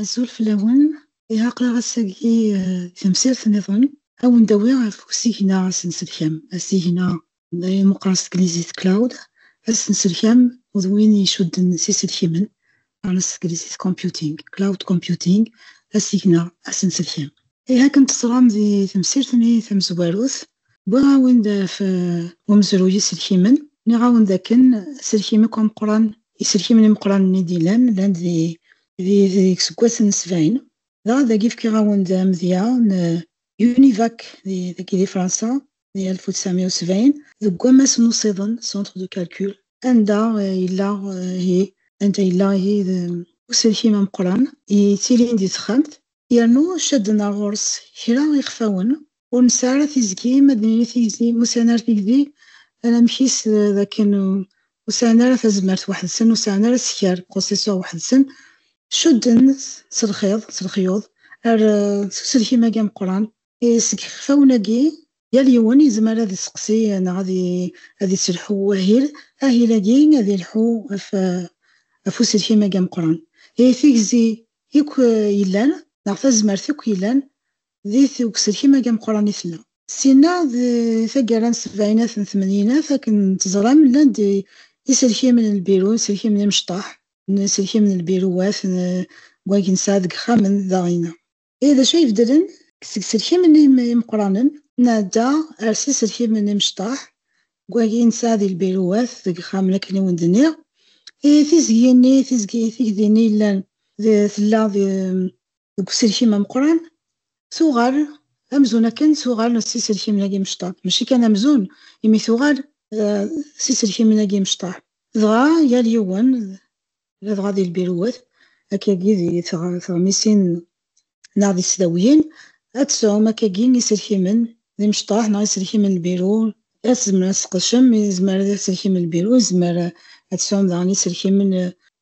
Azul fell-awen, iɛaqla ass-agi tamsirt niḍen, ad wen-d-awiɣ ɣef usigna asenselkam, asigna d ayen meqqren s teglizit cloud ad s-nselkam d win icudden s iselkimen ɣer s teglizit computing cloud computing asigna ad s-nselkam ihi akken teẓram di temsirt-nni tamezwarut wwiɣ-awen-d ɣef umezruy iselkimen nniɣ-awen d akken aselkim akk ameqqran iselkimen imeqqranen i d-yellan llan di di iseggasen n sebɛin dɣa dagi fkiɣ-awen-d amedya n Univac dagi di Fransa di 1970 deg wammas n usiḍen centre de calcul anda eh, yella eh, hi anda yella hi d uselkim ameqran yettilin di texxamt yernu cadden ar ɣur-s kra ixfawen ur nesɛi ara tizgi ma d nini tizgi ma usɛin ara tigdi anamek-is eh, d akken ur sɛin ara tazmert weḥd-sen ur sɛin ara sskeṛ processeur weḥd-sen cudden s lxiḍ s lexyuḍ ar s uselkim-agi ameqran Seg yixfawen-agi, yal yiwen yezmer ad iseqsi neɣ ad iselḥu i wahil. Ahil-agi ad yelḥu ɣef uselkim-agi ameqqran. Ihi tigzi yakk yellan neɣ tazmert yakk yellan deg uselkim-agi ameqqran i tella. Syin-a d taggara n sebɛinat n tmenyinat, akken teẓram llan-d iselkimen n lbiru, iselkimen imecṭaḥ, iselkimen n lbiruwat n wagi nesɛa deg yixxamen daɣ-inna. I d acu ay ibeddlen? Seg yiselkimen imeqranen, nɛedda ɣer yiselkimen imecṭaḥ, deg wagi nesɛa di lbiruwat, deg yixxamen akken i wen-d-nniɣ. Tiẓgi-nni, tigdi-nni yellan tella deg uselkim ameqran, tuɣal amzun akken tuɣal s yiselkimen-agi imecṭaḥ. Maci kan amzun, imi tuɣal s yiselkimen-agi imecṭaḥ. Dɣa yal yiwen ladɣa di lbiruwat akkagi di teɣmisin neɣ di tesdawiyin, ad tesɛum akkagi iselkimen d imecṭaḥ neɣ iselkimen n lbiru, ad tzemrem ad tesqedcem izmar d iselkimen n lbiru, izmer ad tesɛum daɣen iselkimen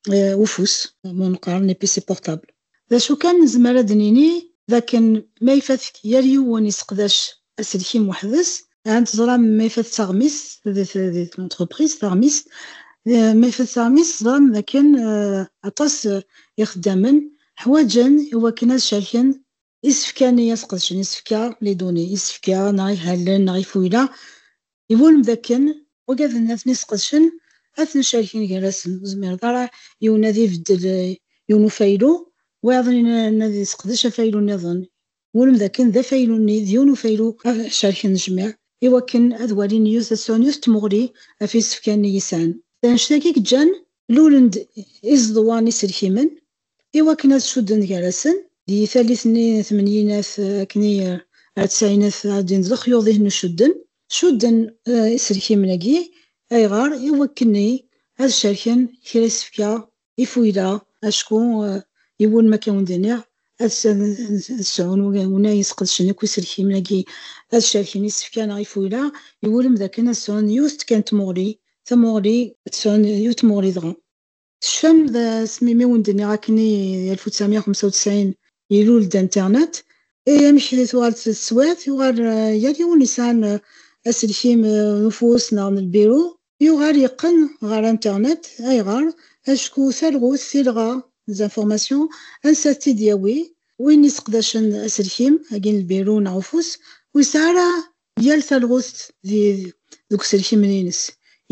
n ufus, ma neqqar les PC portables. D acu kan, nezmer ad d-nini d akken ma ifat-k yal yiwen iseqdac aselkim weḥd-s, ahat teẓram ma ifat taɣmist di tlentreprise, taɣmist, ma ifat taɣmist teẓram d akken aṭas ixeddamen ḥwaǧen i wakken ad cerken isefka-nni, ad sqedcen isefka, les données, isefka neɣ ihalen neɣ ifuyla I wulem d akken ugaden ad ten-isqedcen, ad ten-cerken gar-asen, ur zmireḍ ara yiwen ad ibeddel yiwen ufaylu, wayeḍ ad yesseqdec afaylu nniḍen, wulem d akken d afaylu-nni d yiwen ufaylu ad cerken jmiɛ, i wakken ad walin yiwet ad sɛun yiwet tmuɣli ɣef yisefka-nni i sɛan. D annect-agi i yeǧǧan lulen-d izeḍwan iselkimen I wakken ad cudden gar-asen, di tallit-nni n tmenyinat akken i ar tsaɛinat ara d-inin d lexyuḍ ihen n ucudden, cudden iselkimen-agi, ayɣer? I wakken i ad cerken kra isefka, ifuyla, acku yiwen ma akka wen-d-iniɣ ad sɛun win ay yesqedcen akk iselkimen-agi ad cerken isefka neɣ ifuyla, iwulem d akken ad sɛun yiwet kan n tmuɣli, tamuɣli. Ad sɛun yiwet n tmuɣli dɣa. Tecfam d asmi mi wen-d-nniɣ akken i d 1995 ilul-d internet, i amek i tuɣal teswiɛt, yuɣal yal yiwen yesɛan aselkim n ufus neɣ n lbiru, yuɣal yeqqen ɣer internet, ayɣer? Acku talɣut, tilɣa, les informations, ansa ad t-id-yawi? Win yesseqdacen aselkim, agi n lbiru neɣ ufus, ur yesɛi ara yal talɣut deg uselkimen-ines,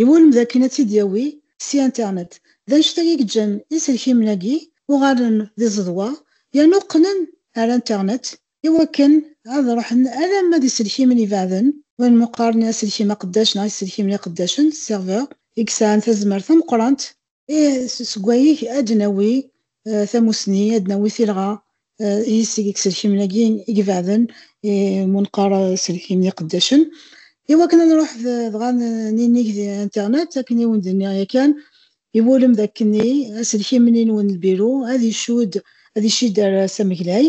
iwulem d akken ad tt-id-yawi si internet. D annect-agi i yeǧǧan iselkimen-agi uɣalen d iẓeḍwa yernu qqnen ar internet i wakken ad ruḥen alamma d iselkimen ibeɛden win mmuqaren i aselkim aqeddac neɣ iselkimen iqeddacen, serveurs, i yesɛan tazmert tameqqrant Et seg wayeg ad d-nawi tamussni, ad d-nawi tilɣa i yiseg i yiselkimen-agi igebaɛden, i mu neqqar iselkimen iqeddacen. I wakken ad nruḥ dɣa ninig di internet, akken i wen-d-nniɣ yakan, iwulem d akkenni, aselkim-nni n wenlbiru ad icudd, ad icidder s ameglay,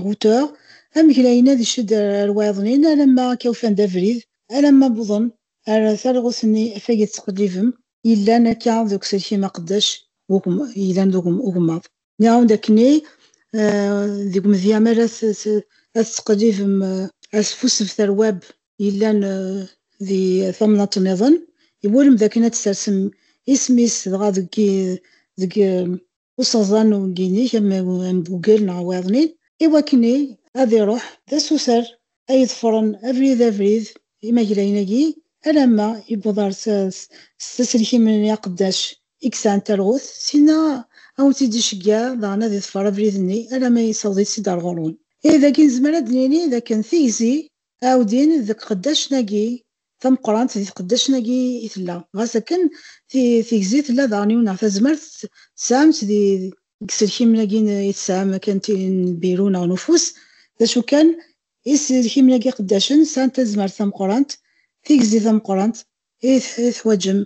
routeur, ameglay-nni ad icidder ar wayeḍnin alamma akka ufan-d abrid, alamma wwḍen Ar talɣut-nni afag i tettqellibem yellan akka deg uselkim aqeddac yellan d ugemmaḍ. Nniɣ-awen-d akken i deg umedya mi ara tettqellibem asfussebet ar web yellan di tamnaḍt nniḍen, iwulem d akken ad d-tersem isem-is dɣa deg useɣẓan n uwegginig am am Google neɣ wayeḍnin, i wakken i ad iruḥ d asuter ay iḍefren abrid abrid imaglayen-agi alamma yewweḍ ɣer s s taselkimen-nni aqeddac i yesɛan talɣut, syin-a ad awent-id-iceggeɛ daɣen ad iḍfer abrid-nni alamma yessaweḍ-itt-id ɣer ɣur-wen. Ihi dagi nezmer ad d-nini d akken tigzi Aɛudin deg qeddacen-agi tameqqrant, di tqeddacen-agi i tella. Ɣas akken, tigzi tella daɣen yiwen neɣ tazmert tesɛam-tt di. Deg yiselkimen-agi i tesɛam akken tin n lbiru neɣ n ufus, d acu kan, iselkimen-agi iqeddacen sɛan tazmert tameqqrant, tigzi tameqqrant i teḥwaǧem.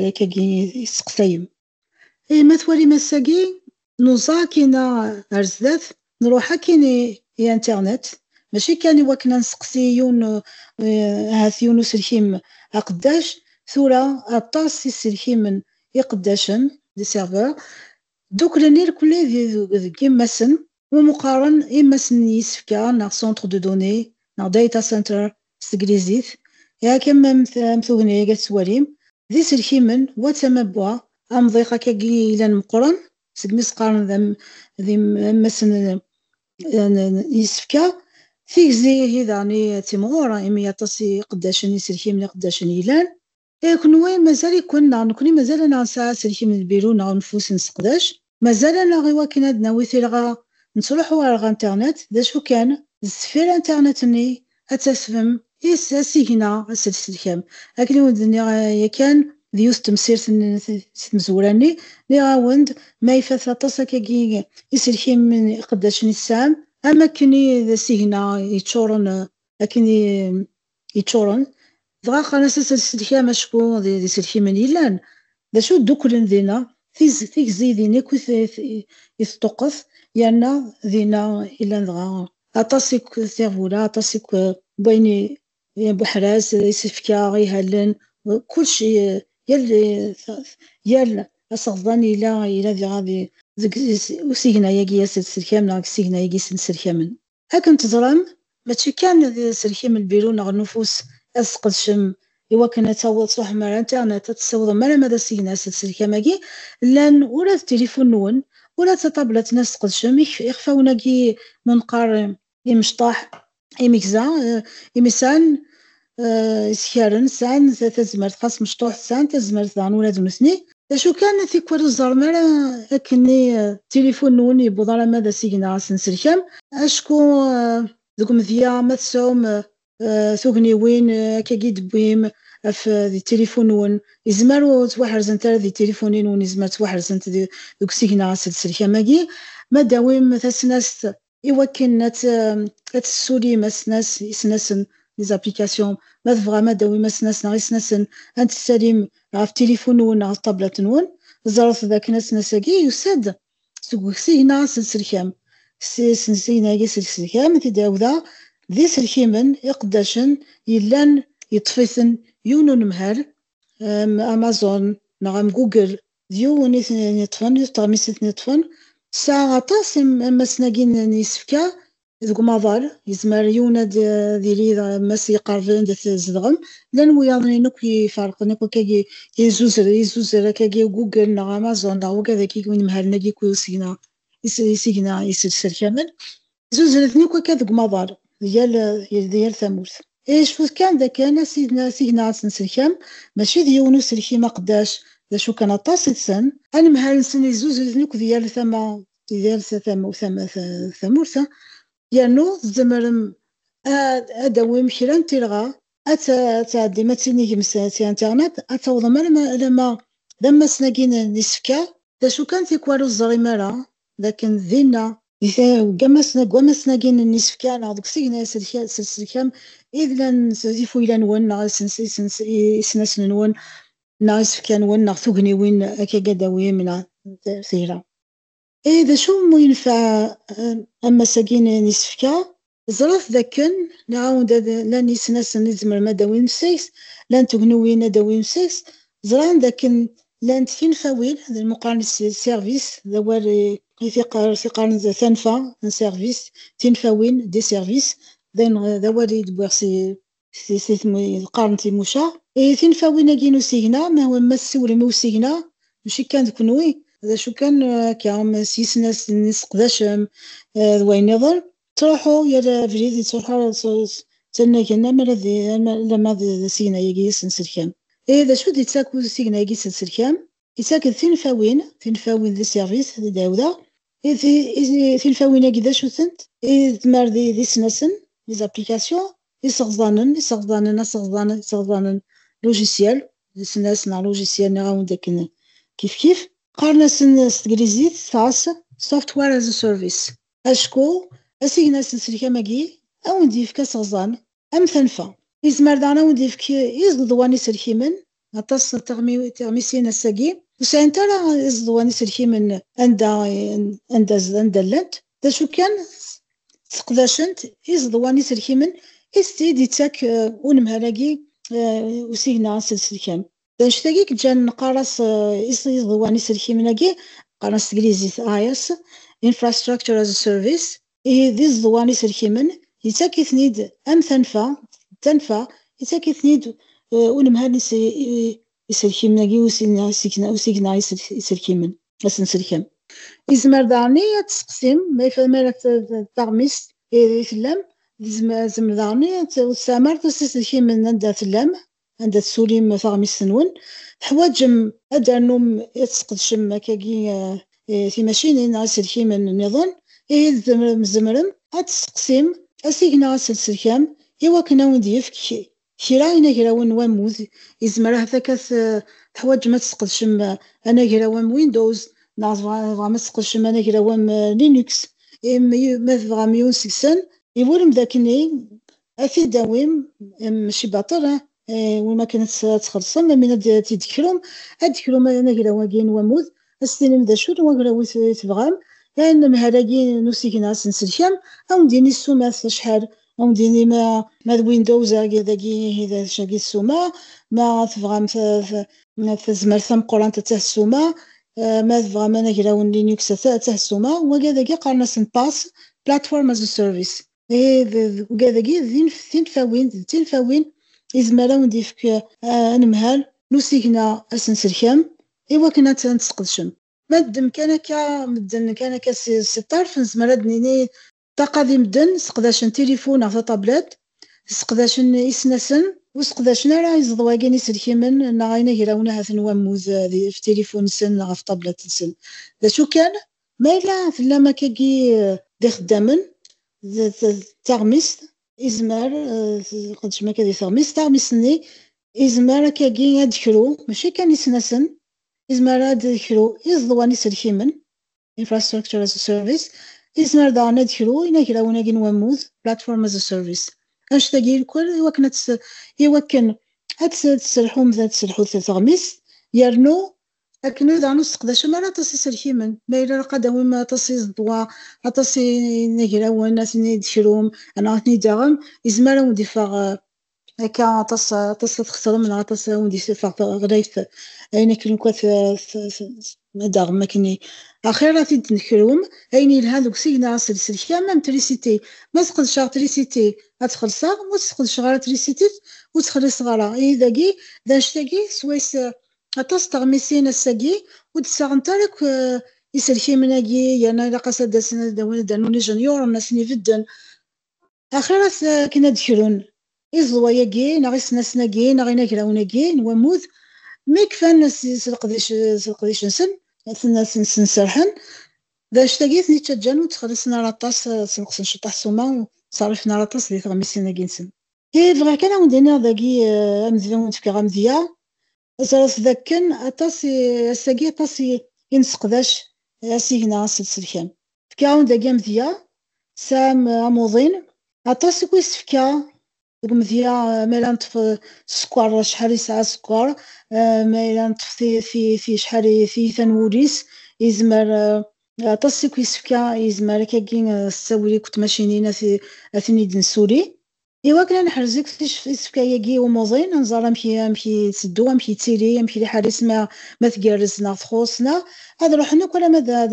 Akkagi i tesseqsayem. I ma twalim ass-agi, nuẓa akkin-a ar zdat, nruḥ akkin i internet, mačči kan i wakken a nesteqsi yiwen, ahat yiwen uselkim aqeddac, tura aṭas iselkimen iqeddacen, des serveurs, ddukklen irkelli deg yemma-sen, Ur meqqaren imassen n yisefka neɣ centre de données neɣ data center s teglizit, yak am am tugna-agi ad tettwalim, d iselkimen wa d tama n wa, amḍiq akka-agi yellan meqqren, segmi i s-qqaren d am d imassen n yisefka, tigzi ihi daɣen i d timɣur, imi aṭas n yiqeddacen iselkimen iqeddacen yellan. Ee, kenwi mazal-iken neɣ nekni mazal-aneɣ nesɛa aselkim n lbiru neɣ uneffus nesseqdac? Mazal-aneɣ iwakken ad d-nawi tilɣa nettruḥu ɣer ɣer internet? D acu kan, sdeffir internet-nni ad tasfem is asigna aselselkam. Akken i wen-d-nniɣ yakan d yiwet temsirt n si tmezwura-nni, nniɣ-awen-d ma ifat aṭas akkagi iselkimen iqeddacen i tesɛam, am wakken i d asigna yeččuren akken i yeččuren, dɣa qqaren-as ad tt-id-sellkem acku d iselkimen yellan d acu ddukklen dinna, tigzi din akk i teṭṭuqqet yerna dinna i llan dɣa aṭas n tiɣbula, aṭas n wayen buḥraz, isefka, ihallen, kullec yal aseɣḍan yella diɣa deg usigna-agi ad tt-id-sellkem neɣ deg usigna-agi i tt-id-sellkamen. Akken teẓram, mačči kan d aselkim lbiru neɣ n ufus ad tesqedcem i wakken ad taweḍ tṛuḥem ar internet ad tessiwḍem alamma d asigna s tselkam-agi llan ula d tilifun-nwen ula d tatablatt n ad tesqedcem ixfawen-agi n unqar imecṭaḥ imegza imisan isekaren sɛan tazmert xas mecṭuḥ sɛan tazmert daɣen ula d nutni d acu kan tikwal ur ẓerrem ara akken i tilifun nwen yewweḍ alamma d asigna neɣ asenselkam acku deg umedya ma tesɛum tugniwin akka i d-tewwim af di tilifun nwen yezmer ur ttwaḥerzent ara di tilifunin nwen yezmer ttwaḥerzent deg usigna asenselkam agi ma d-tawim tasnast i wakken ad tessulim asnas isnasen les applications ma tebɣam ad tawim asnas neɣ isnasen ad tessalim ɣef tilifun-nwen neɣ ɣef ṭablat-nwen ẓret dakken asnas-agi yusa-d seg usigna aselselkam aselsigna-agi aselselkam i t-id-ɛawdeɣ d iselkimen iqeddacen yellan yeṭṭef-iten yiwen unemhal am Amazon neɣ am Google d yiwen i ten-iṭṭfen, yiwet teɣmist i ten-iṭṭfen. Tesɛa aṭas ammasen-agi n yisefka deg umaḍal, yezmer yiwen ad d-yili d ammas yeqerben anda tzedɣem. Llan wiyaḍen-in akk iferqen, akk akkagi izuzer, izuzer akkagi Google neɣ Amazon neɣ wagad-agi inemhalen-agi akk isigna, isigna iserkamen. Zuzren-ten akk akka deg umaḍal, di yal, di yal tamurt. I cfut kan d akken asigna, asigna n tsenselkam, mačči d yiwen uselkim aqeddac, d acu kan aṭas i tessen. Anemhal-nsen yezzuzer-iten akk di yal tama, di yal tama, tama, tamurt, yernu tzemrem ad, ad d-tawim kra n tirɣa, ad ta, ad tɛeddim ad tinigem s, s internet, ad tawḍem alamma, alamma d ammasen-agi n, n isefka. D acu kan tikwal ur teẓrim ara, d akken dinna, deg wammasen-agi n yisefka neɣ deg usigna s tselkam i d-llan ifuyla-nwen neɣ isnasen-nwen neɣ isefka-nwen neɣ tugniwin akka gadawim neɣ tira. Ihi d acu umi yenfeɛ ammas-agi n yisefka? Ẓret dakken nɛawed ad llan yisnasen i tzemrem ad d-tawim seg-s, llan tugnuwin ad d-tawim seg-s, ẓran dakken llant tinfawin, d lmuqaren s service, d awal i t-iqqaren d tanfa, un service, tinfawin, des services, d ayen, d awal i d-wwiɣ si. s tislit qqaren timuca ihi tinfawin-agi n usigna ma ma tessiwlem i usigna maci kan d kenwi d acu kan akka s yisnas n iseqdacem d wayen niḍen ttruḥu yal abrid yettruḥu ttanagen amar ad lamma d asigna-agi asenselkam ihi d acu d-yettak usigna-agi asenselkam yettak-d tinfawin tinfawin d iservis d dawda Tilfawin-agi d acu-tent? Tmar d isnasen, les applications, iseɣẓanen, iseɣẓanen, aseɣẓan, iseɣẓanen, logiciel, d isnas neɣ logiciel, nniɣ-awen-d akken kifkif. Qqaren-asen s teglizit, tas, software as a service. Acku asigna s lselkam-agi, ad wen-d-yefk aseɣẓan. Am tanfa, yezmer daɣen ad wen-d-yefk izeḍwa n yiselkimen, aṭas n tiɣmisin ass-agi ur sɛint ara izeḍwa n yiselkimen anda anda llant, d acu kan sseqdacent izeḍwa n yiselkimen i d-yettak unemhal-agi usigna aselselkam. D anect-agi yeǧǧan neqqar-as iẓeḍwan iselkimen-agi, qqaren s teglizit IaaS, Infrastructure as a Service, d iẓeḍwan iselkimen yettak-iten-id am tanfa, d tanfa yettak-iten-id unemhal n yiselkimen-agi, usigna iselkimen, asenselkam. Yezmer daɣen ad testeqsim, ma ara d taɣmist i tellam, yezmer daɣen ad testeqsim ur tesɛim ara iselkimen anda tellam, anda tessulim taɣmist-nwen, teḥwaǧem ad d-ternum ad tesqedcem akkagi timacinin neɣ iselkimen nniḍen, ihi tzemrem ad testeqsim asig neɣ aselselkam i wakken ad wen-d-yefk kra inagrawen n wammud, yezmer ahat akka teḥwaǧem ad tesqedcem anagraw am Windows neɣ tebɣam ad tesqedcem anagraw am Linux, ma tebɣam yiwen seg-sen. Iburem d akken i ad t-id-tawim mačči baṭel win akken ad txellṣem amin ad t-id-tekrum ad d-tekrum anagraw-agi n wammud ad s-tinim d acu n wagraw i tebɣam anemhal-agi n usigna ad s-nselkam ad wen-d-yini ssumat acḥal ad wen-d-yini ma d Windows dagi ihi d acu-agi ssuma ma tebɣam tazmert tameqqrant attah ssuma ma tebɣam anagraw n Linux attah ssuma wagi dagi qqaren-asen PaaS, Platform as a Service. Deg dagi d tinfawin d tinfawin izmer ad awen-d-yefk anemhal n usigna asenselkam iwakken ad t-tesqedcem. Ma ddem kan akka medden kan akka si ṭṭerf nezmer ad d-nini ṭṭaqa di medden seqdacen tilifun neɣ tatablet, seqdacen isnasen ur seqdacen ara iẓeḍwagi n iselkimen neɣ inagrawen ahat n wammud ɣef tilifun-nsen neɣ ɣef tablet-nsen. D acu kan Ma yella tellam akkagi d ixeddamen d taɣmist, izmer tqeddcem akka di teɣmist, taɣmist-nni izmer akkagi ad d-kru, mačči kan isnasen, izmer ad d-kru iẓeḍwa n iselkimen, infrastructure as a service, izmer daɣen ad d-kru inagrawen-agi n wammud, platform as a service. Annect-agi irkwel iwakken ad iwakken ad tesselḥum ad tesselḥu teɣmist yernu akken ur daɣen ur tesseqdacem ara aṭas iselkimen, ma yella ilaq ad d-tawim aṭas iẓeḍwa, aṭas inagrawen, ad ten-id-tekrum, neɣ ad ten-id-taɣem, yezmer ad wen-d-iffeɣ akka aṭas, aṭas ad txeṣrem neɣ aṭas ad wen-d-iffeɣ teɣlayt, ayen akken uqat d-taɣem akkenni. Axir ad t-id-nekrum, ayen yelhan deg usigna s lselkam am trisiti, ma sqedceɣ trisiti ad tt-xellṣeɣ, ma ur tt-sqedceɣ ara trisiti ur tt-xelliṣeɣ ara, ihi dagi, d annect-agi swayes Aṭas teɣmisin ass-agi ur d-ssaɣent ara akk iselkimen-agi yerna ilaq-as ad d-asen ad d-awin ad d-rnun ijenyuren ad ten-ibedden. Axiṛ-as akken ad d-krun iẓeḍwa-agi neɣ isnasen-agi neɣ inagrawen-agi n wammud mi kfan s leqdic-nsen. Asen-nsen serrḥen d annect-agi i ten-ittaǧǧan ur ttxelliṣen ara aṭas, ssenqsen ceṭṭaḥ ssuma ur ttṣerrifen ara aṭas di teɣmisin-agi-nsen. I bɣiɣ kan ad wen-d-iniɣ dagi eh, amedya ur d-fkeɣ amedya, ẓret dakken aṭas i- ass-agi aṭas i- i nesseqdac eh, asigna aselselkan. Fkiɣ-awen dagi amedya, tesɛam eh, amuḍin, aṭas i k-is-fka deg umedya eh, ma yella neṭṭef eh, sskeṛ, acḥal yesɛa sskeṛ, eh, ma yella neṭṭef ti- ti- ti- acḥal i- tiyita n wul-is, yezmer eh, Aṭas i k-yessefka yezmer akagi s tawuri akked tmacinin ad ten-id-nessuli. Iwakken ad neḥrez akk isefka-agi i umuḍin, ad nẓer amek amek yetteddu, amek yettili, amek liḥala-is ma ma tgerrez neɣ txuṣṣ neɣ, ad ruḥen akk alamma d ad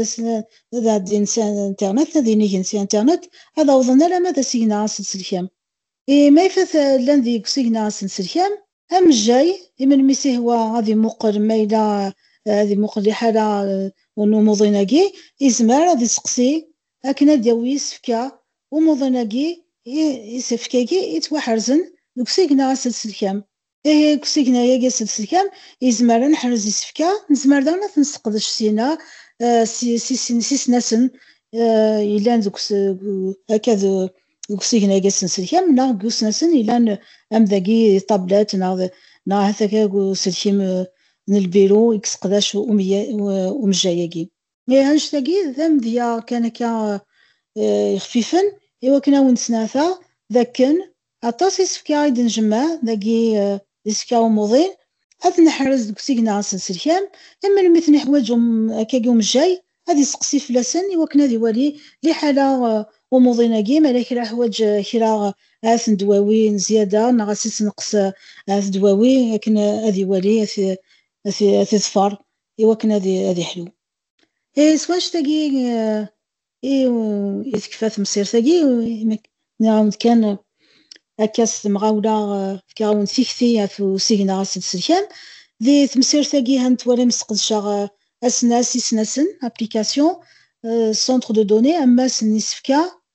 ad ɛeddin s internet, ad inigen s internet, ad awḍen alamma d asigna aselselkam. I ma ifat llan deg usigna asenselkam, amejjay i melmi i s-ihwa ad imuqel ma yella ad imuqel liḥala n umuḍin-agi, izmer ad iseqsi akken ad d-yawi isefka umuḍin-agi, isefka-agi yettwaḥerzen deg usigna asenselkam, Deg usigna-agi aselsekam, yezmer ad neḥrez isefka, nezmer daɣen ad ten-nesseqdec syin-a s isnasen yellan deg akka deg usigna-agi asenselkam neɣ deg usnasen yellan am dagi d tablet neɣ neɣ ahat akka deg uselkim n lbiru i yesseqdac umejjay-agi. Neh annect-agi d amedya kan akka yexfifen i wakken ad awen-d-snɛeteɣ d akken aṭas isefka i d-njemmeɛ dagi d isefka umuḍin, ad ten-neḥrez deg usigna asenselkam i melmi i ten-iḥwaǧ akkagi umejjay ad isteqsi fell-asen i wakken ad iwali liḥala umuḍin-agi mi ara kra iḥwaǧ kra ahat n ddwawi n zzyada neɣ ad s-ittneqqes ahat ddwawi akken ad iwali ad t-iḍfer iwakken ad ad iḥlu. Eh, s wanect-agi eh, i i tekfa temsirt-agi, nniɣ-awen-d kan eh, akka s temɣawla eh, fkiɣ-awen-d tikti ɣef usigna ɣas i tselkam. Di temsirt-agi ha n twalim sqedceɣ eh, asnas, isnasen, application, eh, centre de données, ammas n isefka,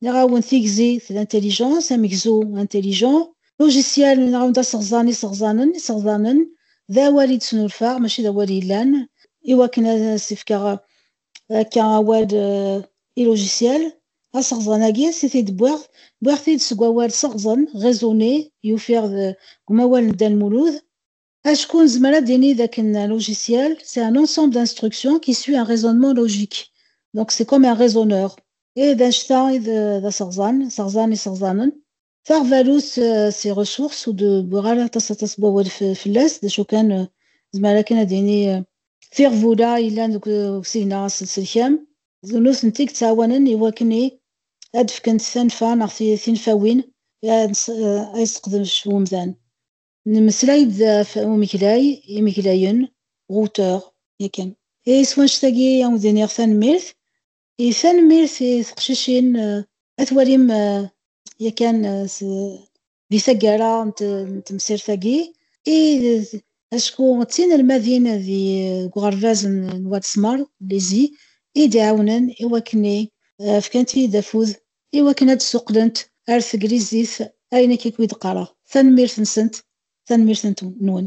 Nniɣ-awen tigzi d l'intelligence, amegzu, intelligent, logiciel, nniɣ-awen d aseɣẓan, iseɣẓanen, iseɣḍanen, d awal i d-snulfaɣ mačči d awal yellan, i wakken ad as-fkeɣ akka awal i logiciel, aseɣẓan-agi si t-id wwiɣ, wwiɣ-t-id seg wawal seɣẓen, raisonner, i ufiɣ deg umawal n Dda Lmulud. Acku nezmer ad d-nini dakken un logiciel, c'est un ensemble d'instructions qui suit un raisonnement logique. Donc c'est comme un raisonneur. Et d annect-a i d aseɣẓan, seɣẓan iseɣẓanen. Taɣbalut c'est ressource ur d-wwiɣ ara aṭas aṭas n wawal fell-as, d acu kan nezmer akken ad d-nini tiɣbula yellan deg usigna aselselkam, d nutenti i yettɛawanen i wakken i ad d-fkent tanfa neɣ tinfawin i ad as-seqdec umdan. Nemmeslay-d ɣef umeglay, imeglayen, auteur, yakan. I twanect-agi ad wen-d-iniɣ tanemmirt. I tanemmirt i teqcicin ad twalim yakan di taggara n temsirt-agi i acku d tinelmadin deg uɣerbaz n Wat Smer, lycée, i d-iɛawnen i wakken i fkant-iyi-d afud I wakken ad d-suqlent ar teglizit ayen akk i d-qqareɣ. Tanemmirt-nsent, tanemmirt-nwen.